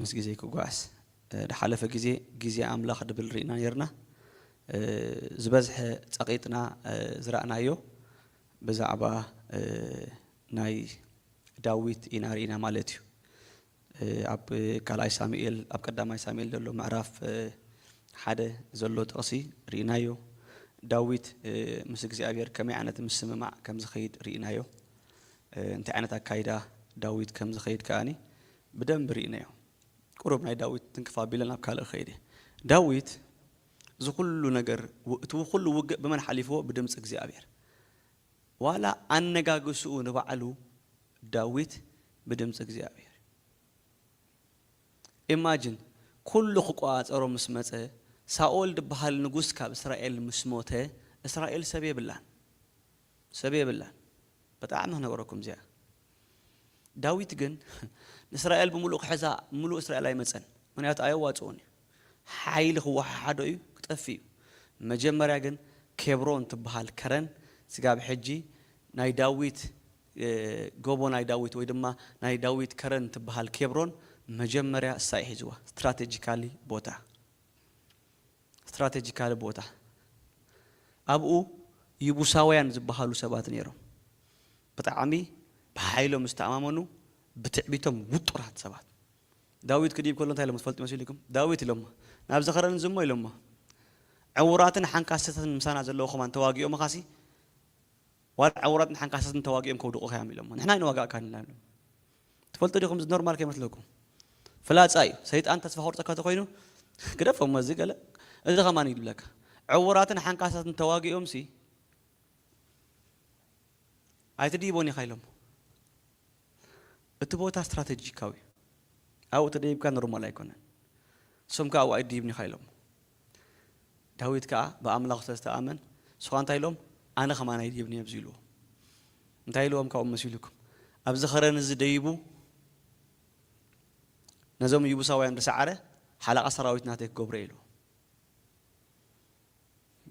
ምስ ግዜ ክጎዓዝ ድሓለፈ ግዜ ግዜ ኣምላኽ ድብል ሪእና ኔርና ዝበዝሐ ጸቂጥና ዝራእናዮ ብዛዕባ ናይ ዳዊት ኢና ሪእና ማለት እዩ ኣብ ካልኣይ ሳሙኤል ኣብ ቀዳማይ ሳሙኤል ዘሎ ምዕራፍ ሓደ ዘሎ ጥቅሲ ሪእናዮ ዳዊት ምስ እግዚኣብሄር ከመይ ዓይነት ምስምማዕ ከም ዝከይድ ሪእናዮ እንታይ ዓይነት ኣካይዳ ዳዊት ከም ዝከይድ ከኣ ብደንቢ ርኢናዮ ቁሩብ ናይ ዳዊት ትንክፍ ኣቢለ ናብ ካልእ ክኸይድ እየ ዳዊት እዚ ኩሉ ነገር እቲ ኩሉ ውግእ ብመን ሓሊፍዎ ብድምጺ እግዚኣብሔር ዋላ ኣነጋግስኡ ንባዕሉ ዳዊት ብድምጺ እግዚኣብሔር ኢማጅን ኩሉ ክቆጻጸሮ ምስ መጸ ሳኦል ድብሃል ንጉስ ካብ እስራኤል ምስ ሞተ እስራኤል ሰብ የብላን ሰብ የብላን ብጣዕሚ ክነግረኩም እዚኣ ዳዊት ግን ንእስራኤል ብምሉእ ክሕዛ ምሉእ እስራኤል ኣይመጸን ምክንያቱ ኣየዋጽኦን እዩ ሓይሊ ክወሓሓዶ እዩ ክጠፍእ እዩ መጀመርያ ግን ኬብሮን ትብሃል ከረን ስጋብ ሕጂ ናይ ዳዊት ጎቦ ናይ ዳዊት ወይ ድማ ናይ ዳዊት ከረን ትብሃል ኬብሮን መጀመርያ እሳ እዩ ሒዝዋ ስትራተጂካሊ ቦታ። ስትራተጂካሊ ቦታ ኣብኡ ይቡሳውያን ዝብሃሉ ሰባት ነይሮም። ብጣዕሚ ብሓይሎም ዝተኣማመኑ ብትዕቢቶም ውጡራት ሰባት። ዳዊት ክድይብ ከሎ እንታይ ኢሎሞ ትፈልጡ መሲሉኩም? ዳዊት ኢሎሞ ናብዚ ከረን እዚ እሞ ኢሎሞ ዕውራትን ሓንካሰትን ምሳና ዘለዉ ከማን ተዋጊኦምኻሲ ዋላ ዕውራትን ሓንካሰትን ተዋጊኦም ከውድቑኻዮም ኢሎሞ ንሕና ኣይንዋጋእካን ኢና ኢሎም። ትፈልጡ ዲኹም እዚ ኖርማል ከይመስለኩም ፍላጻ እዩ ሰይጣን ተስፋ ከቁርጸካ ተኮይኑ ግደፎ እሞ እዚ ገለ እዚ ከማን ይብለካ ዕውራትን ሓንካሳትን ተዋጊኦምሲ ኣይትድይቦን ኢኻ ኢሎሞ እቲ ቦታ ስትራተጂካዊ ኣብኡ ተደይብካ ኖርማል ኣይኮነን ንሶም ከኣ ኣብኡ ኣይድይብን ኢኻ ኢሎሞ ዳዊት ከኣ ብኣምላኹ ስለ ዝተኣመን ንሱ ኸኣ እንታይ ኢሎም ኣነ ከማን ኣይድይብን እየ ኣብዚ ኢልዎም እንታይ ኢልዎም ካብኡ መሲሉኩም ኣብዚ ኸረን እዚ ደይቡ ነዞም ይቡሳውያን ዝሰዓረ ሓለቓ ሰራዊት ናተይ ክገብሮ እየ ኢልዎም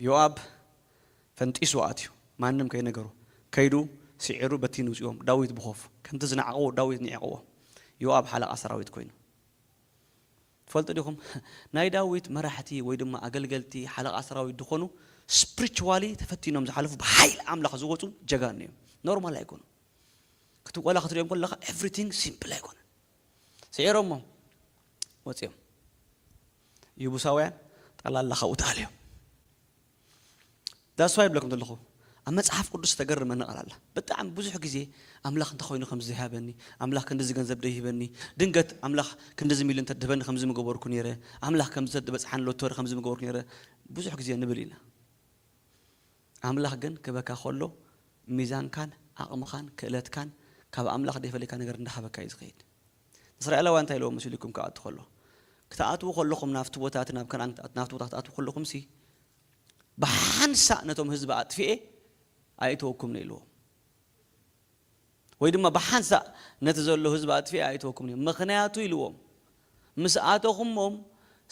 ዮኣብ ፈንጢሱ ኣትዩ ማንም ከይነገሮ ከይዱ ስዒሩ በቲኑ ውጽዎም ዳዊት ብኾፉ ከምቲ ዝነዓቕዎ ዳዊት ኒዒቕዎም ዮኣብ ሓለቓ ሰራዊት ኮይኑ ትፈልጡ ዲኹም ናይ ዳዊት መራሕቲ ወይ ድማ ኣገልገልቲ ሓለቓ ሰራዊት ድኾኑ ስፕሪችዋሊ ተፈቲኖም ዝሓለፉ ብሓይሊ ኣምላኽ ዝወጹ ጀጋኑ እዮም ኖርማል ኣይኮኑን ክት ወላ ክትሪኦም ከለኻ ኤቭሪቲንግ ሲምፕል ኣይኮነን ስዒሮሞም ወጺኦም ይቡሳውያን ጠላላ ካብኡ ተኣልዮም That's why ይብለኩም ዘለኹ ኣብ መጽሓፍ ቅዱስ ተገርመኒ ቃል ኣላ ብጣዕሚ ብዙሕ ግዜ ኣምላኽ እንተኾይኑ ከምዚ ዘይሃበኒ ኣምላኽ ክንዲዚ ገንዘብ ደይህበኒ ድንገት ኣምላኽ ክንዲዚ ሚልዮን ተድህበኒ ከምዚ ምገበርኩ ነይረ ኣምላኽ ከምዚ ተድበጽሓኒ ሎቶሪ ከምዚ ምገበርኩ ነይረ ብዙሕ ግዜ ንብል ኢና ኣምላኽ ግን ክበካ ከሎ ሚዛንካን ዓቕምኻን ክእለትካን ካብ ኣምላኽ ደይፈለካ ነገር እንዳሃበካ እዩ ዝኸይድ ንእስራኤላውያን እንታይ ኢልዎም መሲሉኩም ክኣቱ ከሎ? ክትኣትዉ ከለኹም ናብቲ ቦታ እቲ ናብ ከነኣን ክትኣት ናብቲ ቦታ ክትኣትዉ ከለኹምሲ ብሓንሳእ ነቶም ህዝቢ ኣጥፊኤ ኣየእትወኩምን እየ ኢልዎም። ወይ ድማ ብሓንሳእ ነቲ ዘሎ ህዝቢ ኣጥፊኤ ኣየእትወኩምን እየ ምኽንያቱ ኢልዎም ምስ ኣተኹሞም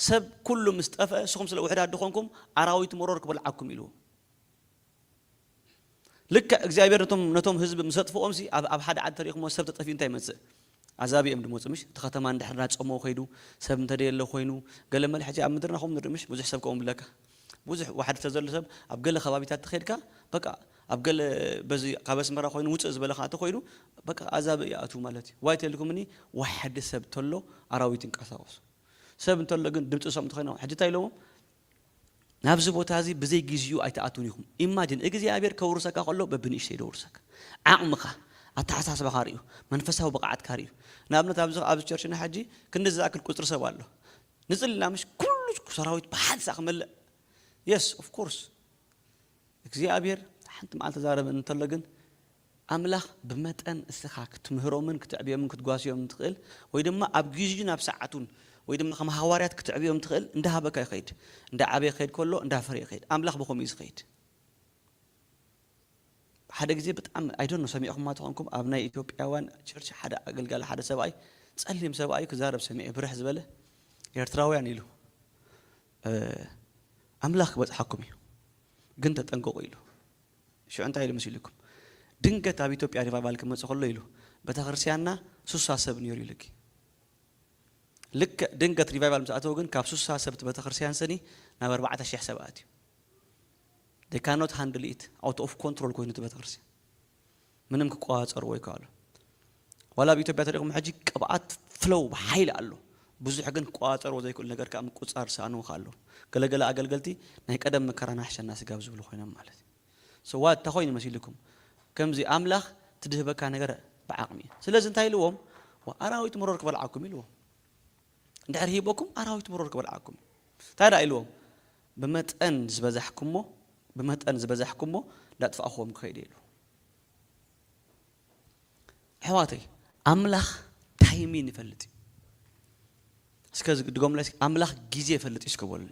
ሰብ ኩሉ ምስ ጠፍአ ንስኹም ስለ ውሑዳት ድኾንኩም ኣራዊት መሮር ክበልዓኩም ኢልዎም። ልክዕ እግዚኣብሔር ነቶም ነቶም ህዝቢ ምስ ኣጥፍኦም ሲ ኣብ ኣብ ሓደ ዓዲ ተሪኢኹሞ ሰብ ተጠፊኡ እንታይ ይመጽእ ኣዛብእ እዮም ድመጹ ምሽ እቲ ከተማ እንድሕር እናጸመወ ከይዱ ሰብ እንተደየለ ኮይኑ ገለ መለ ሕጂ ኣብ ምድርና ከምኡ ንርኢ ምሽ ብዙሕ ሰብ ከምኡ ብለካ ብዙሕ ዋሕዲ ተዘሎ ሰብ ኣብ ገለ ከባቢታት ተኸይድካ በቃ ኣብ ገለ በዚ ካብ ኣስመራ ኮይኑ ውጽእ ዝበለ ከኣ ተኾይኑ በቃ ኣዛብእ ይኣትው ማለት እዩ ዋይ ተልኩምኒ ዋሕዲ ሰብ ተሎ ኣራዊት ይንቀሳቀሱ ሰብ እንተሎ ግን ድምጺ ዝሰምዑ ተኸይኖም ሕጂ እንታይ ኢሎሞም ናብዚ ቦታ እዚ ብዘይ ግዚኡ ኣይትኣትዉን ኢኹም ኢማጅን እግዚኣብሔር ከውርሰካ ከሎ በብንእሽተይ ደውርሰካ ዓቅምኻ ኣተሓሳስባኻ ሪኡ መንፈሳዊ ብቅዓትካ ሪኡ ንኣብነት ኣብዚ ኣብዚ ቸርችና ሕጂ ክንድዚ ዝኣክል ቁጽሪ ሰብ ኣሎ ንጽሊ እና ምሽ ኩሉ ሰራዊት ብሓንሳ ሳዕ ክመልእ የስ ኦፍ ኮርስ እግዚኣብሔር ሓንቲ መዓልቲ ተዛረበኒ እንተሎ ግን ኣምላኽ ብመጠን እስኻ ክትምህሮምን ክትዕብዮምን ክትጓስዮምን ትኽእል ወይ ድማ ኣብ ጊዚኡን ኣብ ሰዓቱን ወይ ድማ ከም ሃዋርያት ክትዕብዮም ትኽእል እንዳ ሃበካ ዩ ክኸይድ እንዳ ዓበየ ክኸይድ ከሎ እንዳ ፈረየ ይኸይድ ኣምላኽ ብኸምኡ ዩ ዝኸይድ ሓደ ግዜ ብጣዕሚ ኣይ ዶንት ኖ ሰሚዕኹማ ተኾንኩም ኣብ ናይ ኢትዮጵያውያን ቸርች ሓደ ኣገልጋሊ ሓደ ሰብኣይ ጸሊም ሰብኣይ ዩ ክዛረብ ሰሚዐ ብርሕ ዝበለ ኤርትራውያን ኢሉ ኣምላኽ ክበጽሓኩም እዩ ግን ተጠንቀቑ ኢሉ ሽዑ እንታይ ኢሉ መሲሉኩም ድንገት ኣብ ኢትዮጵያ ሪቫይቫል ክመጽእ ከሎ ኢሉ በተክርስቲያንና ሱሳ ሰብ ኔሩ ኢሉኪ ልክዕ ድንገት ሪቫይቫል ምስ ኣተው ግን ካብ ሱሳ ሰብቲ በተክርስቲያን ሰኒ ናብ ኣርባዕተ ሽሕ ሰብ ኣትዩ they cannot handle it out of control ኮይኑ እቲ ቤተክርስትያን ምንም ክቆጻጸርዎ ኣይከኣሉ ዋላ ኣብ ኢትዮጵያ ተሪኹሞ ሕጂ ቅብኣት ፍለው ብሓይሊ ኣሎ ብዙሕ ግን ክቆጻጸርዎ ዘይክእሉ ነገር ከኣ ምቁጽጻር ዝሰኣንዎ ከኣ ኣለዉ ገለ ገለ ኣገልገልቲ ናይ ቀደም መከራና ይሕሸና ስጋብ ዝብሉ ኮይኖም ማለት እዩ so what እንታይ ኮይኑ መሲልኩም ከምዚ ኣምላኽ ትድህበካ ነገር ብዓቅሚ እዩ ስለዚ እንታይ ኢልዎም ኣራዊት መሮር ክበልዓኩም ኢልዎም። እንድሕር ሂበኩም ኣራዊት ብሩር ክበልዓኩም እዩ። እንታይ ደኣ ኢልዎም ብመጠን ዝበዛሕኩሞ ብመጠን ዝበዛሕኩሞ እንዳጥፋእክዎም ክኸይድ እየ ኢሉ። ኣሕዋተይ ኣምላኽ ታይሚን ይፈልጥ እዩ። እስከ ድገሙለይ እስኪ ኣምላኽ ግዜ ይፈልጥ እዩ እስከ በሉኒ።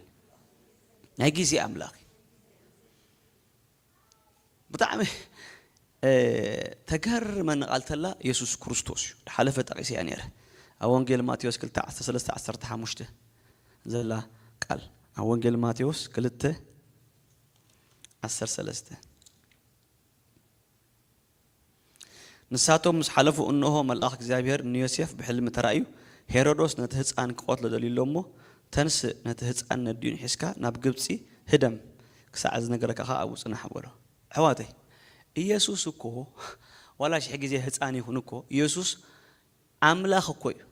ናይ ግዜ ኣምላኽ እዩ። ብጣዕሚ ተገርመኒ ቃል ተላ የሱስ ክርስቶስ እዩ ድሓለፈ ጠቂሰያ ነይረ ኣብ ወንጌል ማቴዎስ ክልተ ዓሰርተ ሰለስተ ዓሰርተ ሓሙሽተ ዘላ ቃል ኣብ ወንጌል ማቴዎስ ክልተ ዓሰርተ ሰለስተ ንሳቶም ምስ ሓለፉ እንሆ መልኣኽ እግዚኣብሄር ንዮሴፍ ብሕልሚ ተራእዩ ሄሮዶስ ነቲ ህጻን ክቐትሎ ደልዩ ኣሎ እሞ ተንስእ ነቲ ህጻን ነዲኡን ሒዝካ ናብ ግብጺ ህደም ክሳዕ ዝነገረካ ከኣ ኣብኡ ጽናሕ በሎ። ኣሕዋተይ ኢየሱስ እኮ ዋላ ሽሕ ግዜ ህጻን ይኹን እኮ ኢየሱስ ኣምላኽ እኮ እዩ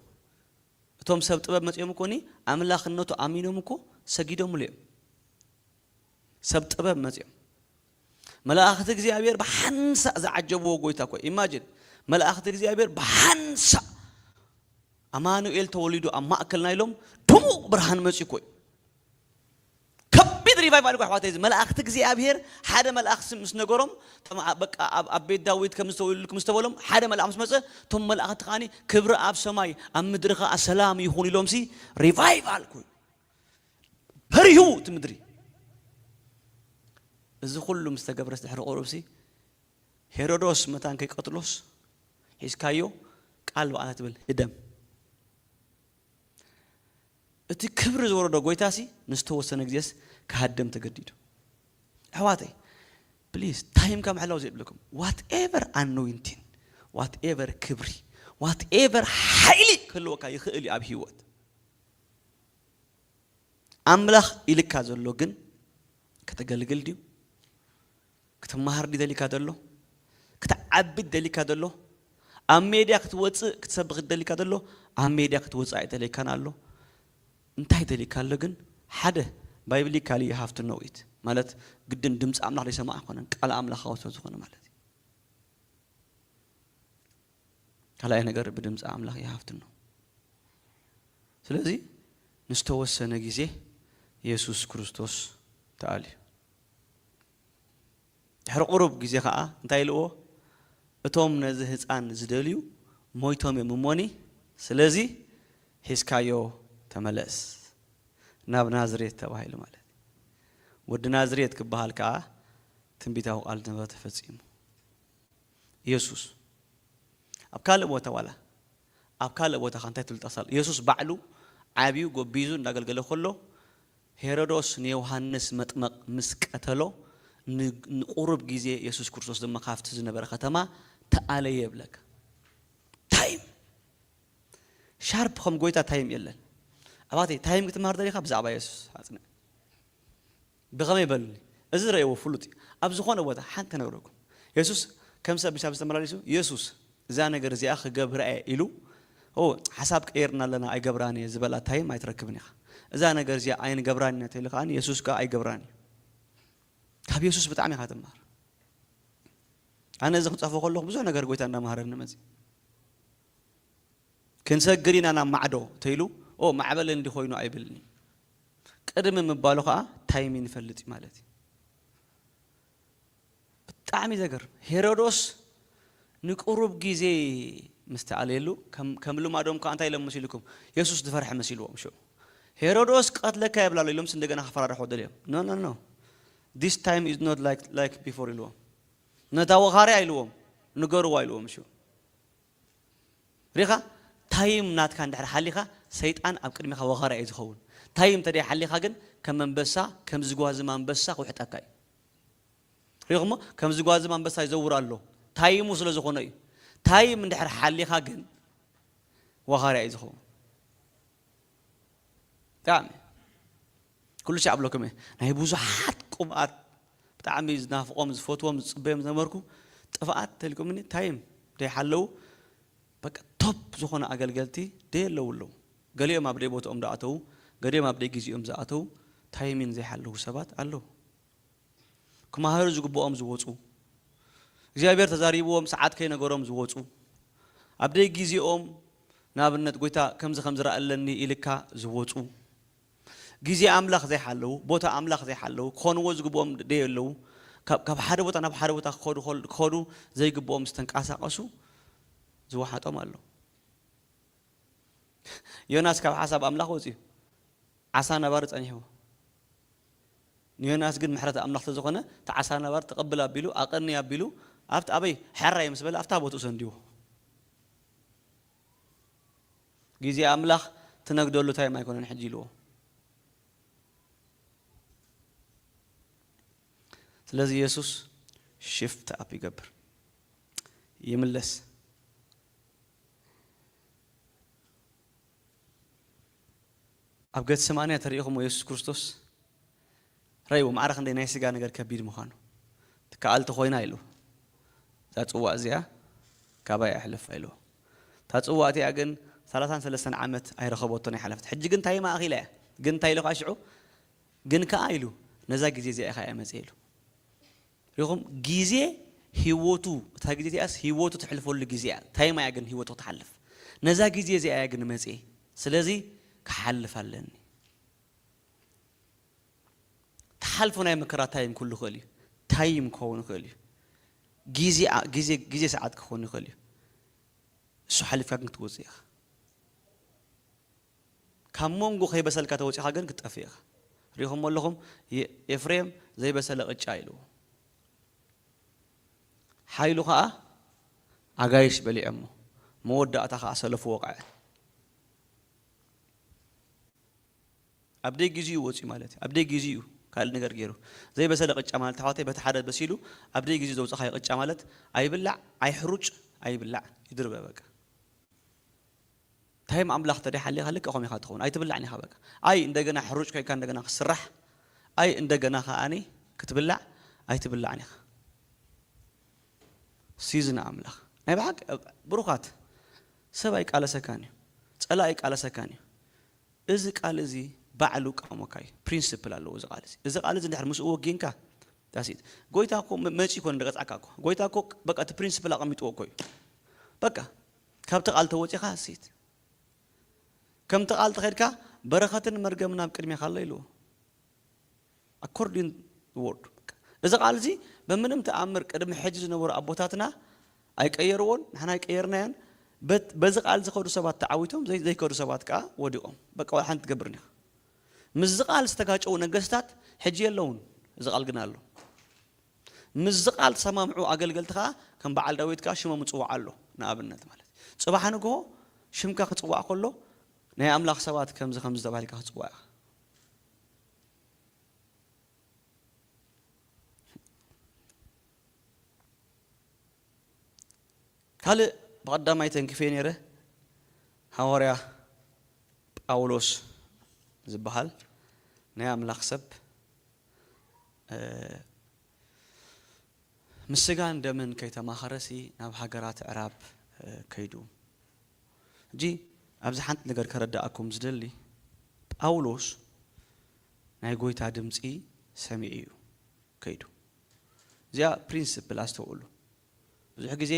እቶም ሰብ ጥበብ መጺኦም እኮ ን ኣምላኽነቱ ኣሚኖም እኮ ሰጊዶምሉ እዮም። ሰብ ጥበብ መጺኦም መላእክት እግዚኣብሔር ብሓንሳእ ዝዓጀብዎ ጎይታ እኮ ኢማጅን መላእክት እግዚኣብሔር ብሓንሳእ ኣማኑኤል ተወሊዱ ኣብ ማእከልና ኢሎም ድሙቕ ብርሃን መጺኡ እኮ እዩ ከቢድ ሪቫይቫል እኮ ኣሕዋተይ እዚ መላእክቲ እግዚኣብሔር ሓደ መልኣኽ ስ- ምስ ነገሮም እቶም ኣ- በቃ ኣብ ኣብ ቤት ዳዊት ከም ዝተወልድኩም ምስ ተበሎም ሓደ መልኣኽ ምስ መፀ እቶም መላእኽቲ ከዓኒ ክብሪ ኣብ ሰማይ ኣብ ምድሪ ከዓ ሰላም ይኹን ኢሎምሲ ሪቫይቫል እኮ እዩ በሪሁ እቲ ምድሪ እዚ ኩሉ ምስ ተገብረስ ድሕሪ ቁሩብሲ ሄሮዶስ መታን ከይቀትሎስ ሒዝካዮ ቃል ባዕላ ትብል ህደም እቲ ክብሪ ዝወረዶ ጎይታሲ ንዝተወሰነ ግዜስ ክሃደም ተገዲዱ ኣሕዋተይ ፕሊዝ ታይምካ ምሕላው ዘይብልኩም ዋት ኤቨር ኣኖይንቲን ዋት ኤቨር ክብሪ ዋት ኤቨር ሓይሊ ክህልወካ ይኽእል እዩ ኣብ ሂወት ኣምላኽ ኢልካ ዘሎ ግን ከተገልግል ድዩ? ክትመሃር ድዩ ደሊካ ዘሎ? ክትዓብድ ደሊካ ዘሎ? ኣብ ሜድያ ክትወጽእ ክትሰብኽ ደሊካ ዘሎ? ኣብ ሜድያ ክትወጽእ ኣይደለካን ኣሎ። እንታይ ደሊካ ኣሎ ግን? ሓደ ባይብሊካሊ ዩ ሃቭ ቱ ኖው ኢት ማለት ግድን ድምጺ ኣምላኽ ዘይሰማዕ ኣይኮነን ቃል ኣምላኻዊ ስለዝኾነ ማለት እዩ። ካልኣይ ነገር ብድምፂ ኣምላኽ ይሃፍትኖ። ስለዚ ንዝተወሰነ ግዜ የሱስ ክርስቶስ ተኣልዩ። ድሕሪ ቁሩብ ግዜ ኸኣ እንታይ ኢልዎ? እቶም ነዚ ህጻን ዝደልዩ ሞይቶም እዮም እሞኒ፣ ስለዚ ሒዝካዮ ተመለስ ናብ ናዝሬት ተባሂሉ ማለት እዩ። ወዲ ናዝሬት ክበሃል ከኣ ትንቢታዊ ቃል ዝነበረ ተፈጺሙ። የሱስ ኣብ ካልእ ቦታ ዋላ ኣብ ካልእ ቦታ ከ እንታይ ፍልጠት ኣሎ? የሱስ ባዕሉ ዓብዩ ጎቢዙ እንዳገልገለ ከሎ ሄረዶስ ንዮሃንስ መጥመቕ ምስ ቀተሎ ን ንቁሩብ ግዜ የሱስ ክርስቶስ ድማ ካብቲ ዝነበረ ከተማ ተኣለየ ይብለካ። ታይም ሻርፕ ከም ጎይታ ታይም የለን። ኣባቴ ታይም ክትመሃር ደሊኻ ብዛዕባ የሱስ ኣጽንዕ። ብኸመይ በሉኒ፣ እዚ ዝረእይዎ ፍሉጥ እዩ፣ ኣብ ዝዀነ ቦታ ሓንቲ ክነግረኩም። የሱስ ከም ሰብ ምስ ኣብዚ ተመላሊሱ፣ የሱስ፣ እዛ ነገር እዚኣ ክገብራ እየ ኢሉ፣ ኦው፣ ሓሳብ ቀይርና ኣለና ኣይገብራን እየ ዝበላ ታይም ኣይትረክብን ኢኻ። እዛ ነገር እዚኣ ኣይንገብራን ኢና ተኢሉ ከኣ የሱስ ከኣ ኣይገብራን እዩ። ካብ የሱስ ብጣዕሚ ኢኻ ትመሃር። ኣነ እዚ ክጽሕፎ ከለኹ ብዙሕ ነገር ጐይታ እንዳመሃረኒ መጺኡ። ክንሰግር ኢና ናብ ማዕዶ ተይሉ ኦ ማዕበል እንዲ ኮይኑ ኣይብልን እዩ ቅድሚ ምባሉ ከኣ ታይም ይንፈልጥ እዩ ማለት እዩ ብጣዕሚ ዘገርም ሄሮዶስ ንቁሩብ ግዜ ምስ ተኣልየሉ ከም ልማዶም ከኣ እንታይ ኢሎም መሲልኩም የሱስ ዝፈርሐ መሲልዎም ሽዑ ሄሮዶስ ክቐትለካ የብላ ኣሎ ኢሎምስ እንደገና ክፈራርሖ ደልዮም ኖ ኖ ኖ ዲስ ታይም ኢዝ ኖት ላይክ ቢፎር ኢልዎም ነታ ወኻርያ ኢልዎም ንገርዋ ኢልዎም ሽዑ ሪኢኻ ታይም ናትካ እንድሕር ሓሊኻ ሰይጣን ኣብ ቅድሚኻ ወኻርያ እዩ ዝኸውን ታይም እንተደይ ሓሊኻ ግን ከም ኣንበሳ ከም ዝጓዝም ኣንበሳ ክውሕጠካ እዩ ሪኢኹሞ ከም ዝጓዝም ኣንበሳ ይዘውር ኣሎ ታይሙ ስለ ዝኾኖ እዩ ታይም እንድሕር ሓሊኻ ግን ወኻርያ እዩ ዝኸውን ብጣዕሚ ኩሉ ሻዕ እብለኩም እየ ናይ ብዙሓት ቁብኣት ብጣዕሚ ዝናፍቆም ዝፈትዎም ዝጽበዮም ዝነበርኩ ጥፍኣት ተልኩምኒ ታይ እም ደይ ሓለው በቃ ቶፕ ዝኮኑ ኣገልገልቲ ደይ ኣለው ኣለው ገሊኦም ኣብ ደይ ቦትኦም ዶ ኣተው ገሊኦም ኣብ ደይ ግዚኦም ዝኣተው ታይሚን ዘይ ሓለው ሰባት ኣለው ክማሃሩ ዝግብኦም ዝወጹ እግዚኣብሔር ተዛሪብዎም ሰዓት ከይ ነገሮም ዝወጹ ኣብ ደይ ግዚኦም ንኣብነት ጎይታ ከምዚ ከምዚ ረኣ ኣለኒ ኢልካ ዝወጹ ግዜ ኣምላኽ ዘይሓለዉ፣ ቦታ ኣምላኽ ዘይሓለዉ፣ ክኾንዎ ዝግብኦም ደየለዉ፣ ካብ ካብ ሓደ ቦታ ናብ ሓደ ቦታ ክኸዱ ከል ክኸዱ ዘይግብኦም ዝተንቃሳቐሱ ዝወሓጦም ኣሎ። ዮናስ ካብ ሓሳብ ኣምላኽ ወጺኡ ዓሳ ነባሪ ጸኒሕዎ። ንዮናስ ግን ምሕረት ኣምላኽ ተዝኾነ እቲ ዓሳ ነባሪ ተቐብል ኣቢሉ ኣቐኒ ኣቢሉ ኣብቲ ኣበይ ሕራይ ምስ በለ ኣብታ ቦትኡ ሰንዲዎ። ግዜ ኣምላኽ ትነግደሉ ታይም ኣይኮነን ሕጂ ኢልዎ። ስለዚ የሱስ ሽፍት ኣፕ ይገብር ይምለስ። ኣብ ገተሰማንያ ተሪኢኹሞ የሱስ ክርስቶስ ረይዎ ማዕረ ክንደይ ናይ ስጋ ነገር ከቢድ ምዃኑ። ትከኣል ተኾይና ኢሉ እዛ ጽዋእ እዚኣ ካባይ ኣይሕለፋ ኢልዎ። እታ ጽዋእ እቲኣ ግን ሰላሳን ሰለስተን ዓመት ኣይረኸበቶን ኣይሓለፈትን። ሕጂ ግን እንታይ ማእኺላ እያ ግን እንታይ ኢሉ ከኣ ሽዑ ግን ከኣ ኢሉ ነዛ ግዜ እዚኣ ኢኻ እያ መጺእ ኢሉ። ሪኢኹም ግዜ ህይወቱ እታ ግዜ እቲኣስ ህይወቱ ተሕልፈሉ ግዜ እያ ታይማ እያ ግን ህይወቱ ክትሓልፍ ነዛ ግዜ እዚኣ እያ ግን መጺኤ ስለዚ ክሓልፍ ኣለኒ። ትሓልፎ ናይ መከራ ታይም ኩሉ ይኽእል እዩ ታይም ክኸውን ይኽእል እዩ ግዜ ግዜ ግዜ ሰዓት ክኸውን ይኽእል እዩ እሱ ሓሊፍካ ግን ክትወፅእ ኢኻ ካብ መንጎ ከይበሰልካ ተወፂኻ ግን ክትጠፍእ ኢኻ ሪኹም ኣለኹም ኤፍሬም ዘይበሰለ ቅጫ ኢልዎ ሓይሉ ከዓ ኣጋይሽ በሊዖሞ መወዳእታ ከዓ ሰለፉ ወቕዐ ኣብ ደይ ጊዚኡ ወጽዩ ማለት እዩ ኣብ ደይ ጊዚኡ ካልእ ነገር ጌሩ ዘይ በሰለ ቅጫ ማለት ኣሕዋተይ በቲ ሓደ በሲሉ ኣብ ደይ ጊዚኡ ዘውጸኻዮ ቅጫ ማለት ኣይብላዕ ኣይሕሩጭ ኣይብላዕ ይድርበ በቃ ታይም ኣምላኽ ተደይ ሓሊኻ ልክዕ ከምኡ ኢኻ ትኸውን ኣይትብላዕን ኢኻ በቃ ኣይ እንደገና ሕሩጭ ኮይንካ እንደገና ክትስራሕ ኣይ እንደገና ከኣኒ ክትብላዕ ኣይትብላዕን ኢኻ። ሲዝን ኣምላኽ ናይ ብሓቂ ብሩኻት ሰብ ኣይቃለሰካን እዩ ጸላኢ ኣይቃለሰካን እዩ እዚ ቃል እዚ ባዕሉ ቃሞካ እዩ ፕሪንስፕል ኣለዎ እዚ ቃል እዚ እዚ ቃል እዚ ድሕር ምስኡ ወጊንካ ዳሲት ጎይታ እኮ መጺ እኮ ንደቀጽዓካ እኮ ጎይታ እኮ በቃ እቲ ፕሪንስፕል ኣቐሚጥዎ እኮ እዩ በቃ ካብቲ ቃል ተወጺኻ ሴት ከምቲ ቃል ተኸድካ በረኸትን መርገምን ኣብ ቅድሜኻ ኣሎ ኢልዎ According the word በቃ እዚ ቃል እዚ በምንም ተኣምር ቅድሚ ሕጂ ዝነበሩ ኣቦታትና ኣይቀየርዎን ንሕና ኣይቀየርናዮን በት በዚ ቃል ዝከዱ ሰባት ተዓዊቶም ዘይ ዘይከዱ ሰባት ከኣ ወዲቆም በቃ ዋላ ሓንቲ ትገብርን ኢካ ምስዚ ቃል ዝተጋጨዉ ነገስታት ሕጂ የለዉን እዚ ቃል ግና ኣሎ ምስዚ ቃል ተሰማምዑ ኣገልገልቲ ከኣ ከም በዓል ዳዊት ከኣ ሽሞም ዝጽዋዕ ኣሎ ንኣብነት ማለት እዩ ጽባሕ ንግሆ ሽምካ ክጽዋዕ ከሎ ናይ ኣምላኽ ሰባት ከምዚ ከምዚ ተባሂልካ ክትጽዋዕ ኢካ ካልእ ብቐዳማይ ተንክፌ ነይረ ሃዋርያ ጳውሎስ ዝበሃል ናይ ኣምላኽ ሰብ ምስ ስጋን ደምን ከይተማኸረሲ ናብ ሃገራት ዕራብ ከይዱ ሕጂ ኣብዚ ሓንቲ ነገር ከረድኣኩም ዝደሊ ጳውሎስ ናይ ጎይታ ድምጺ ሰሚዑ እዩ ከይዱ። እዚኣ ፕሪንስፕል ኣስተውእሉ። ብዙሕ ግዜ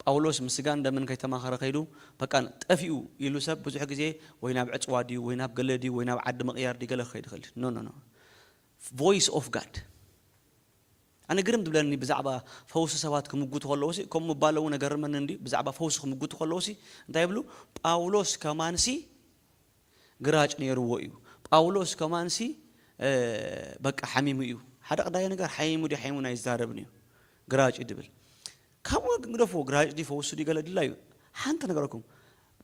ጳውሎስ ምስ ስጋን ደምን ከይተማኸረ ከይዱ በቃ ጠፊኡ ኢሉ ሰብ ብዙሕ ግዜ ወይ ናብ ዕጽዋ ድዩ ወይ ናብ ገለ ድዩ ወይ ናብ ዓዲ ምቕያር ድዩ ገለ ክኸይድ ይኽእል እዩ። ኖ ኖ ኖ ቮይስ ኦፍ ጋድ ኣነ ግርም ዝብለኒ ብዛዕባ ፈውሲ ሰባት ክምጉቱ ከለዉሲ ከምኡ ምባሎም ውን ኣገርመኒ እንድዩ ብዛዕባ ፈውሲ ክምጉቱ ከለዉሲ እንታይ ይብሉ ጳውሎስ ከማንሲ ግራጭ ኔርዎ እዩ ጳውሎስ ከማንሲ በቃ ሓሚሙ እዩ ሓደ ቀዳይ ነገር ሓሚሙ ድዩ ሓሚሙን ኣይዛረብን እዩ ግራጭ እዩ ድብል ካብኡ ግደፍዎ ግራጭ ድዩ ፈውሲ ድዩ ገለ ድላዩ ሓንቲ ነገረኩም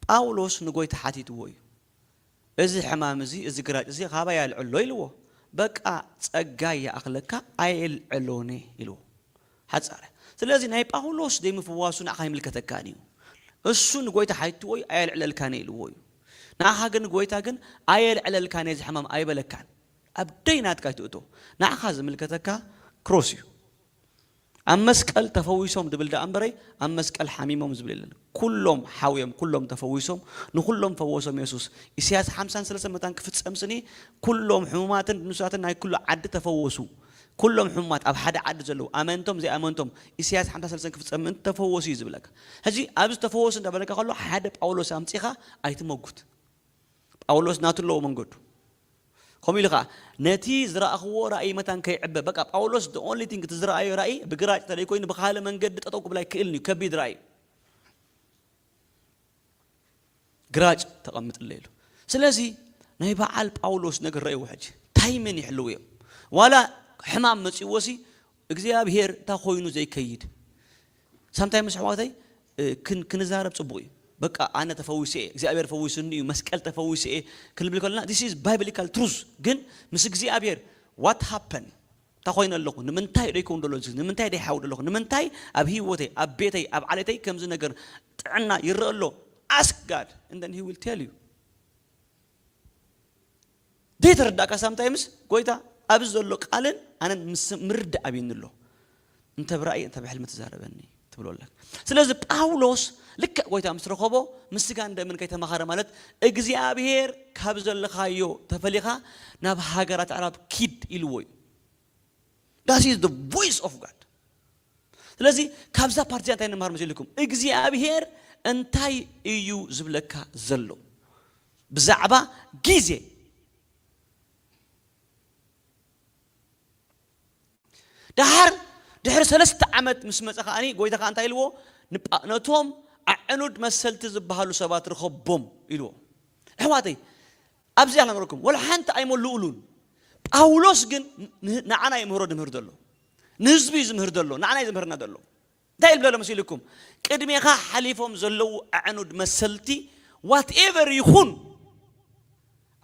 ጳውሎስ ንጎይታ ሓቲትዎ እዩ እዚ ሕማም እዚ እዚ ግራጭ እዚ ኻባይ ኣልዕሎ ኢልዎ በቃ ጸጋይ ይኣኽለካ ኣይእልዕሎንየ ኢልዎ ሓጻረ ስለዚ ናይ ጳውሎስ ዘይምፍዋሱ ንዓኻ ኣይምልከተካን እዩ እሱ ንጎይታ ሓይትዎ እዩ ኣየልዕለልካንየ ኢልዎ እዩ ንዓኻ ግን ጎይታ ግን ኣየልዕለልካንየ እዚ ሕማም ኣይበለካን ኣብ ደይ ናትካ ኣይትእቶ ንዓኻ ዝምልከተካ ክሮስ እዩ። ኣብ መስቀል ተፈዊሶም ድብል ደኣ እምበረይ ኣብ መስቀል ሓሚሞም ዝብል የለን ኩሎም ሓውዮም ኩሎም ተፈዊሶም ንኹሎም ፈወሶም የሱስ ኢሰያስ ሓምሳን ሰለሰን መታን ክፍጸም ስኒ ኩሎም ሕሙማትን ድኑሳትን ናይ ኩሉ ዓዲ ተፈወሱ ኩሎም ሕሙማት ኣብ ሓደ ዓዲ ዘለዉ ኣመንቶም ዘይኣመንቶም ኢሰያስ ሓምሳ ሰለሰን ክፍጸም ምእንቲ ተፈወሱ እዩ ዝብለካ ሕጂ ኣብዚ ተፈወሱ እንዳበለካ ከሎ ሓደ ጳውሎስ ኣምጺኻ ኣይትመጉት ጳውሎስ ናቱ ኣለዎ መንገዱ ከምኡ ኢሉ ከኣ ነቲ ዝረኣኽዎ ራእይ መታን ከይዕበ በቃ ጳውሎስ the only thing እቲ ዝረኣዮ ራእይ ብግራጭ ተደይ ኮይኑ ብካልእ መንገዲ ጠጠው ክብል ኣይክእልን እዩ ከቢድ ራእይ እዩ ግራጭ ተቐምጥለይ ኢሉ ስለዚ ናይ በዓል ጳውሎስ ነገር ረእይዎ ሕጂ ታይምን ይሕልው እዮም ዋላ ሕማም መጺዎሲ እግዚኣብሄር እንታይ ኮይኑ ዘይከይድ ሳምታይም ምስ ኣሕዋተይ ክንዛረብ ጽቡቅ እዩ በቃ ኣነ ተፈዊሰ እየ እግዚኣብሔር ፈዊሱኒ እዩ መስቀል ተፈዊሰ እየ ክንብል ከለና this is biblical truth ግን ምስ እግዚኣብሔር what happen እንታይ ኮይነ ኣለኹ ንምንታይ ደይከውን ደሎ እዚ ንምንታይ ደይሓዊ ደለኹ ንምንታይ ኣብ ህይወተይ ኣብ ቤተይ ኣብ ዓሌተይ ከምዚ ነገር ጥዕና ይረአ ኣሎ ask God and then he will tell you ደይ ተረዳእካ ሳምታይምስ ጎይታ ኣብዚ ዘሎ ቃልን ኣነን ምስ ምርድእ ኣብዩኒ ኣሎ እንተ ብራእይ እንተ ብሕልሚ ትዛረበኒ ትብሎ ኣለካ ስለዚ ጳውሎስ ልክዕ ጎይታ ምስ ረኸቦ ምስ ስጋን ደምን ከይተማኸረ ማለት እግዚኣብሄር ካብ ዘለኻዮ ተፈሊኻ ናብ ሃገራት ኣዕራብ ኪድ ኢልዎ እዩ ዳስ ኢዝ ዘ ቮይስ ኦፍ ጋድ። ስለዚ ካብዛ ፓርቲ እንታይ ንመሃር መሲልኩም? እግዚኣብሄር እንታይ እዩ ዝብለካ ዘሎ ብዛዕባ ግዜ? ደሓር ድሕሪ ሰለስተ ዓመት ምስ መፀ ከዓኒ ጎይታ ከዓ እንታይ ኢልዎ? ነቶም ኣዕኑድ መሰልቲ ዝበሃሉ ሰባት ርኸቦም ኢልዎ። ኣሕዋተይ ኣብዚ ኣላምረኩም ወላ ሓንቲ ኣይመሉኡሉን ጳውሎስ ግን ንዓና ይምህሮ ድምህር ዘሎ ንህዝቢ ዝምህር ዘሎ ንዓና ዝምህርና ዘሎ እንታይ ይብለሎ መሲልኩም ቅድሜኻ ሓሊፎም ዘለዉ ኣዕኑድ መሰልቲ ዋትኤቨር ይኹን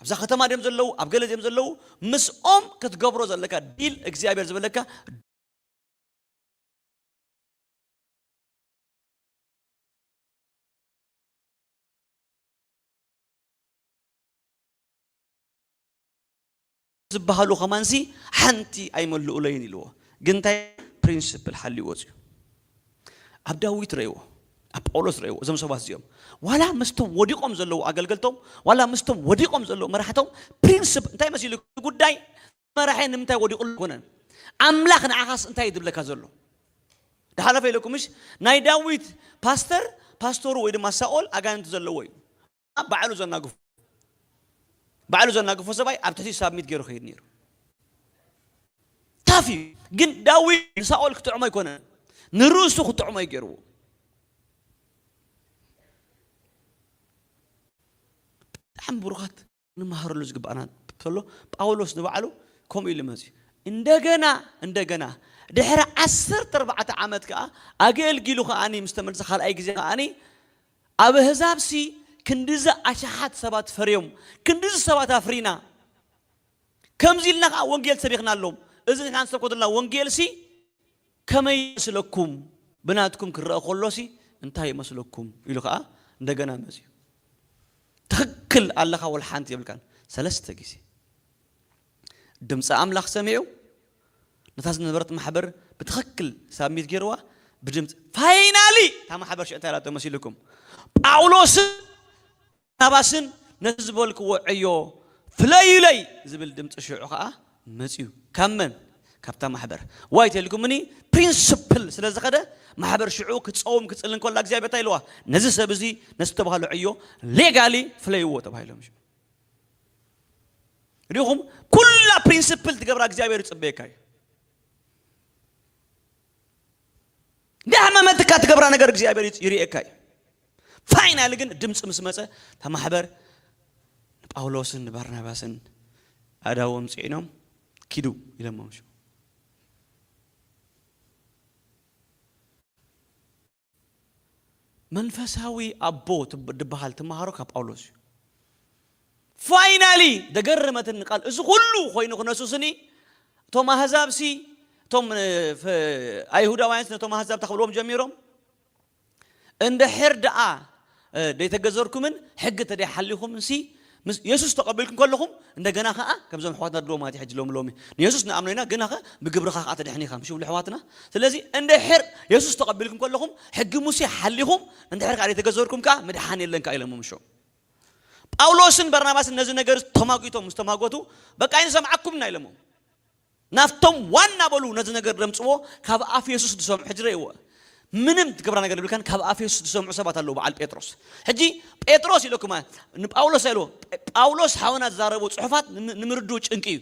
ኣብዛ ከተማ ድም ዘለዉ ኣብ ገለ ም ዘለዉ ምስኦም ክትገብሮ ዘለካ ዲል እግዚኣብሔር ዝበለካ ዝበሃሉ ከማንሲ ሓንቲ ኣይመልኡለይን ኢልዎ ግን እንታይ ፕሪንስፕል ሓልዩ ወፅዩ ኣብ ዳዊት ረእዎ ኣብ ጳውሎስ ረእዎ እዞም ሰባት እዚኦም ዋላ ምስቶም ወዲቆም ዘለዉ ኣገልገልቶም ዋላ ምስቶም ወዲቆም ዘለዉ መራሕቶም ፕሪንስፕ እንታይ መሲሉ ጉዳይ መራሒ ንምንታይ ወዲቁ ኮነን ኣምላኽ ንዓኻስ እንታይ እዩ ዝብለካ ዘሎ ድሓለፈ ኢለኩምሽ ናይ ዳዊት ፓስተር ፓስተሩ ወይ ድማ ሳኦል ኣጋንንቲ ዘለዎ እዩ ድማ ባዕሉ ዘናግፎ ባዕሉ ዘናግፎ ሰብኣይ ኣብ ትሕቲ ሳብሚት ገይሩ ክሄድ ነይሩ ታፍ እዩ ግን ዳዊት ንሳኦል ክጥዕሞ ኣይኮነ ንርእሱ ክጥዕሞ እዩ ገይርዎ ብጣዕሚ ብሩኻት ንመሃረሉ ዝግባኣና ተሎ ጳውሎስ ንባዕሉ ከምኡ ኢሉ መፅዩ እንደገና እንደገና ድሕሪ ዓሰርተ ኣርባዕተ ዓመት ከዓ ኣገልጊሉ ከዓኒ ምስ ተመልሰ ካልኣይ ግዜ ከዓኒ ኣብ ኣህዛብሲ ክንድዚ ኣሽሓት ሰባት ፈርዮም፣ ክንድዚ ሰባት ኣፍሪና፣ ከምዚ ኢልና ኸኣ ወንጌል ሰቢኽናሎም፣ እዚ ንሕና ንሰብኮ ዘሎና ወንጌልሲ ከመይ ይመስለኩም? ብናትኩም ክረኣ ከሎሲ እንታይ ይመስለኩም? ኢሉ ኸኣ እንደገና መጺኡ። ትኽክል ኣለኻ ወልሓንቲ የብልካን፣ ሰለስተ ግዜ። ድምጺ ኣምላኽ ሰሚዑ ነታ ዝነበረት ማሕበር ብትኽክል ሳብሚት ጌርዋ ብድምጺ ፋይናሊ እታ ማሕበር ሽዕታ ኢላቶ መሲልኩም ጳውሎስን ናባስን ነቲ ዝበልክዎ ዕዮ ፍለዩለይ ዝብል ድምፂ ሽዑ ከዓ መፅዩ ካብ መን ካብታ ማሕበር ዋይ ተልኩምኒ ፕሪንስፕል ስለ ዝኸደ ማሕበር ሽዑ ክፀውም ክፅልን ከላ እግዚኣብሔር እንታይ ኢልዋ ነዚ ሰብ እዚ ነዝተባህሎ ዕዮ ሌጋሊ ፍለይዎ ተባሂሎም ሪኹም ኩላ ፕሪንስፕል ትገብራ እግዚኣብሔር ይፅበየካ እዩ ዳሕመመትካ ትገብራ ነገር እግዚኣብሔር ይርእየካ እዩ ፋይናል ግን ድምፂ ምስ መፀ እታ ማሕበር ንጳውሎስን ንባርናባስን ኣዳዎም ፅዒኖም ኪዱ ኢለሞም ሽው መንፈሳዊ ኣቦ ድበሃል ትመሃሮ ካብ ጳውሎስ እዩ። ፋይናሊ ደገረመትኒ ቃል እዚ ኩሉ ኮይኑ ክነሱስኒ እቶም ኣህዛብሲ እቶም ኣይሁዳውያንስ ነቶም ኣህዛብ ተኽብልዎም ጀሚሮም እንድሕር ደኣ ደይተገዘርኩምን ሕጊ ተደይ ሓሊኹምንሲ ምስ የሱስ ተቐቢልኩም ከለኹም እንደገና ከኣ ከምዞም ኣሕዋትና ድሮ ማለት ሕጂ ሎሚ ሎሚ ንየሱስ ንኣምኖ ኢና ግናኸ ብግብርኻ ከኣ ተድሕኒኻ ምሽ ብሉ ኣሕዋትና ስለዚ እንድሕር የሱስ ተቐቢልኩም ከለኹም ሕጊ ሙሴ ሓሊኹም እንድሕር ከኣ ደይተገዘርኩም ከኣ ምድሓን የለን ከኣ ኢሎሞ ምሾም ጳውሎስን በርናባስን ነዚ ነገር ተማጒቶም ምስ ተማጐቱ በቃ ኣይንሰምዓኩም ኢና ኢሎሞም ናብቶም ዋና በሉ ነዚ ነገር ደምጽዎ ካብ ኣፍ የሱስ ድሰምዑ ሕጂ ረእይዎ ምንም ትገብራ ነገር የብልካን ካብ ኣፍ የሱስ ድሰምዑ ሰባት ኣለዉ በዓል ጴጥሮስ ሕጂ ጴጥሮስ ኢለኩም ንጳውሎስ ኣይልዎ ጳውሎስ ሓውና ዝዛረቦ ጽሑፋት ንምርድኡ ጭንቂ እዩ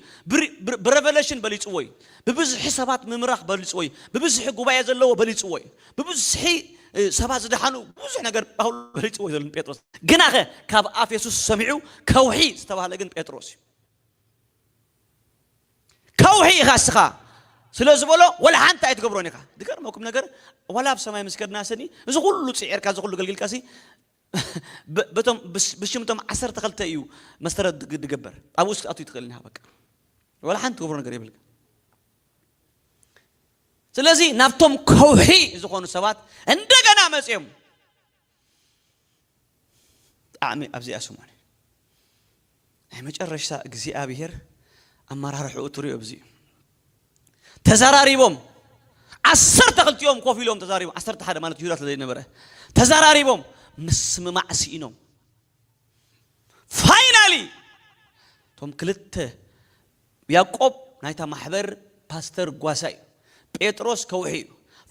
ብረቨለሽን በሊጽዎ እዩ ብብዝሒ ሰባት ምምራኽ በሊጽዎ እዩ ብብዝሒ ጉባኤ ዘለዎ በሊጽዎ እዩ ብብዝሒ ሰባት ዝደሓኑ ብዙሕ ነገር ጳውሎስ በሊጽዎ እዩ ዘሎ ጴጥሮስ ግናኸ ካብ ኣፍ የሱስ ሰሚዑ ከውሒ ዝተባህለ ግን ጴጥሮስ እዩ ከውሒ ኢኻ እስኻ ስለ ዝበሎ ወላ ሓንቲ ኣይትገብሮን ኢኻ ዝገርመኩም ነገር ዋላ ኣብ ሰማይ ምስ ከድና ስኒ እዚ ኩሉ ፅዒርካ እዚ ኩሉ ገልግልካ ሲ በቶም ብሽምቶም ዓሰርተ ክልተ እዩ መሰረት ድገበር ኣብ ውስጥ ኣቱ ይትኽእል ኒሃ በቃ ወላ ሓንቲ ትገብሮ ነገር የብልካ ስለዚ ናብቶም ከውሒ ዝኾኑ ሰባት እንደገና መፅኦም ብጣዕሚ ኣብዚኣ ሰሙን ናይ መጨረሽታ እግዚኣብሔር ኣመራርሕኡ ትሪኦ ኣብዚ እዩ ተዘራሪቦም ዓሰርተ ክልቲኦም ኮፍ ኢሎም ተዛሪቦም ዓሰርተ ሓደ ማለት ይሁዳ ስለዘይነበረ ተዘራሪቦም ምስምማዕ ስኢኖም ፋይናሊ እቶም ክልተ ያቆብ ናይታ ማሕበር ፓስተር ጓሳ እዩ ጴጥሮስ ከውሒ እዩ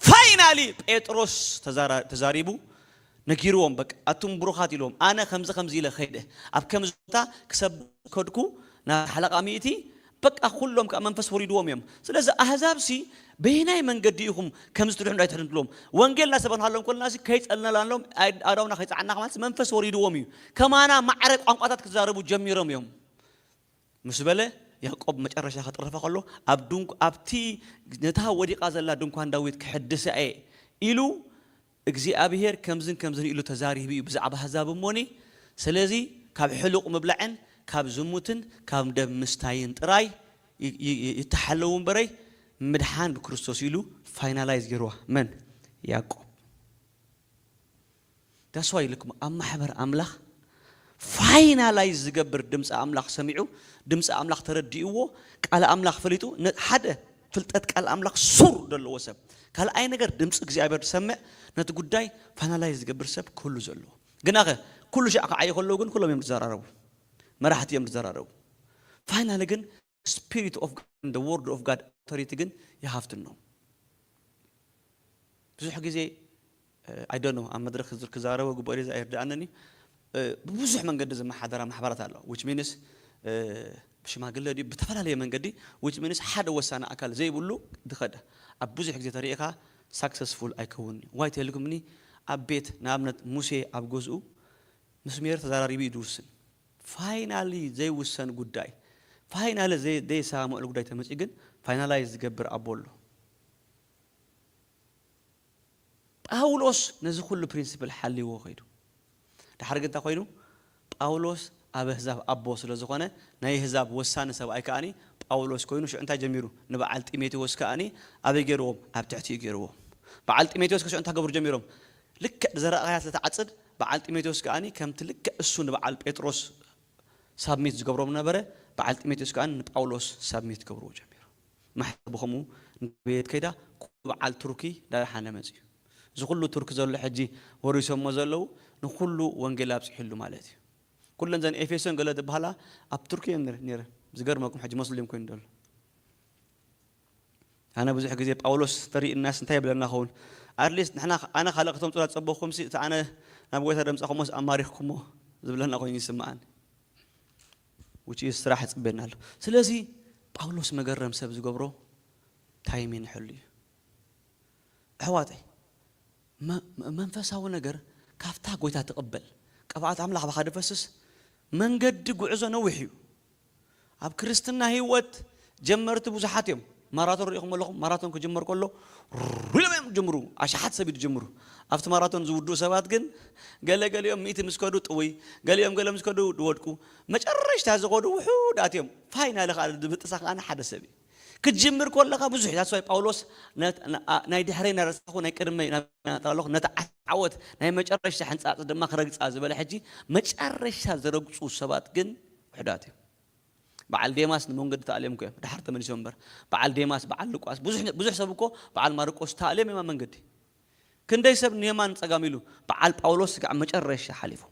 ፋይናሊ ጴጥሮስ ተዛሪቡ ነጊርዎም በቃ ኣቱም ብሩኻት ኢልዎም ኣነ ከምዚ ከምዚ ኢለ ከይደ ኣብ ከምዚ ቦታ ክሰብክ ከድኩ ናብ ሓለቓ ሚእቲ በቃ ኩሎም ከኣ መንፈስ ወሪድዎም እዮም ስለዚ ኣህዛብሲ በየናይ መንገዲ ኢኹም ከምዚ ትድሕኑ ዳይ ትሕኑ ትብሎም ወንጌል እናሰበክናሎም ኮለናሲ ከይጸልነላሎም ኣእዳውና ከይጸዓናካ ማለት መንፈስ ወሪድዎም እዩ ከማና ማዕረ ቋንቋታት ክዛረቡ ጀሚሮም እዮም ምስ በለ፣ ያእቆብ መጨረሻ ክጥረፋ ከሎ፣ ኣብ ድንኳ ኣብቲ ነታ ወዲቓ ዘላ ድንኳን ዳዊት ክሕድሳ እየ ኢሉ እግዚኣብሄር ከምዝን ከምዝን ኢሉ ተዛሪቡ እዩ ብዛዕባ ኣህዛብ እሞኒ ስለዚ ካብ ሕሉቕ ምብላዕን ካብ ዝሙትን ካብ ደም ምስታይን ጥራይ ይተሓለዉ እምበረይ ምድሓን ብክርስቶስ እዩ ኢሉ ፋይናላይዝ ገይርዋ መን ያእቆብ That's why ልክ ኣብ ማሕበር ኣምላኽ ፋይናላይዝ ዝገብር ድምጺ ኣምላኽ ሰሚዑ ድምጺ ኣምላኽ ተረዲእዎ ቃል ኣምላኽ ፈሊጡ ን ሓደ ፍልጠት ቃል ኣምላኽ ሱር ደለዎ ሰብ ካልኣይ ነገር ድምጺ እግዚኣብሔር ዝሰምዕ ነቲ ጉዳይ ፋይናላይዝ ዝገብር ሰብ ክህሉ ዘለዎ ግናኸ ኩሉ ሻዕ ክዓዩ ከለዉ ግን ኩሎም እዮም ዝዘራረቡ መራሕቲ እዮም ዝዘራረቡ ፋይናሊ ግን ስፒሪት ኦፍ ጋድ ን ደ ወርድ ኦፍ ጋድ ኣውቶሪቲ ግን ይሃፍትኖ ብዙሕ ግዜ ኣይ ዶንት ኖ ኣብ መድረኽ ክዛረቦ ግበኦ ድዩ ኣይርድኣንን እዩ ብብዙሕ መንገዲ ዝመሓደራ ማሕበራት ኣለዋ ዊች ሚንስ ብሽማግለ ድዩ ብተፈላለየ መንገዲ ዊች ሚንስ ሓደ ወሳኒ ኣካል ዘይብሉ ዝኸደ ኣብ ብዙሕ ግዜ ተሪእኻ ሳክሰስፉል ኣይከውን እዩ ዋይ ተልኩምኒ ኣብ ቤት ንኣብነት ሙሴ ኣብ ገዝኡ ምስ ሜሪ ተዘራሪቡ እዩ ዝውስን ፋይናሊ ዘይውሰን ጉዳይ ፋይናሊ ዘየሰማምዕሉ ጉዳይ ተመፅዩ ግን ፋይናላይዝ ዝገብር ኣቦ ኣሎ። ጳውሎስ ነዚ ኩሉ ፕሪንስፕል ሓልይዎ ከይዱ። ደሓር ግን እንታይ ኮይኑ ጳውሎስ ኣብ ኣህዛብ ኣቦ ስለ ዝኾነ ናይ ኣህዛብ ወሳኒ ሰብኣይ ከኣ ጳውሎስ ኮይኑ ሽዑ እንታይ ጀሚሩ ንበዓል ጢሞቴዎስ ከኣ ኣበይ ገይርዎም ኣብ ትሕቲኡ ገይርዎም በዓል ጢሞቴዎስ ከ ሽዑ እንታይ ክገብሩ ጀሚሮም ልክዕ ብዘረኣኻያ ስለ ትዓጽድ በዓል ጢሞቴዎስ ከኣ ከምቲ ልክዕ እሱ ንበዓል ጴጥሮስ ሳብሚት ዝገብሮ ምነበረ በዓል ጢሞቴዎስ ከኣ ንጳውሎስ ሳብሚት ክገብርዎ ጀሚሩ ማሕተብ ብኸምኡ እንዳዕበየት ከይዳ ኩሉ በዓል ቱርኪ ዳደሓነ መጺኡ እዚ ኩሉ ቱርኪ ዘሎ ሕጂ ወሪሶሞ ዘለዉ ንኹሉ ወንጌል ኣብጺሕሉ ማለት እዩ ኩለን ዘን ኤፌሶን ገለ ዝበሃላ ኣብ ቱርኪ እየን ኔረን ዝገርመኩም ሕጂ ሞስሊም ኮይኑ ዘሎ ኣነ ብዙሕ ግዜ ጳውሎስ ተሪእናስ እንታይ ይብለና ኸውን at least ንሕና ኣነ ካልእ ከተምጹላ ዝጸበኩምሲ እቲ ኣነ ናብ ጎይታ ደምጻኹሞስ ኣማሪኽኩሞ ዝብለና ኮይኑ ይስምኣኒ which is ስራሕ ይጽበየና ኣሎ ስለዚ ጳውሎስ መገረም ሰብ ዝገብሮ ታይም ይንሕሉ እዩ ኣሕዋተይ መንፈሳዊ ነገር ካብታ ጎይታ ትቕበል ቅብኣት ኣምላኽ ባኻ ድፈስስ መንገዲ ጉዕዞ ነዊሕ እዩ ኣብ ክርስትና ህይወት ጀመርቲ ብዙሓት እዮም። ማራቶን ርኢኹም ኣለኹም? ማራቶን ክጅመር ከሎ ሩር ኢሎም እዮም ዝጅምሩ፣ ኣሽሓት ሰብ እዩ ዝጅምሩ። ኣብቲ ማራቶን ዝውድኡ ሰባት ግን ገለ ገሊኦም ሚእቲ ምስ ከዱ ጥውይ፣ ገሊኦም ገለ ምስ ከዱ ይወድቁ፣ መጨረሽታ ዝኸዱ ውሑዳት እዮም። ፋይናል ኸኣ ዝብጥሳ ከኣ ሓደ ሰብ እዩ። ክትጅምር ኮለኻ ብዙሕ ዩ ዳስዋይ ጳውሎስ ናይ ድሕረይ ናረሳኹ ናይ ቅድመይ ናብናጥራ ኣለኹ ነታ ዓወት ናይ መጨረሻ ሕንጻጽ ድማ ክረግጻ ዝበለ ሕጂ መጨረሻ ዝረግጹ ሰባት ግን ውሕዳት እዮም በዓል ዴማስ ንመንገዲ ተኣልዮም እኮ እዮም ድሓር ተመሊሶም እምበር በዓል ዴማስ በዓል ልቋስ ብዙሕ ብዙሕ ሰብ እኮ በዓል ማርቆስ ተኣልዮም እዮም ኣብ መንገዲ ክንደይ ሰብ ንየማን ጸጋም ኢሉ በዓል ጳውሎስ ስጋዕ መጨረሻ ሓሊፎም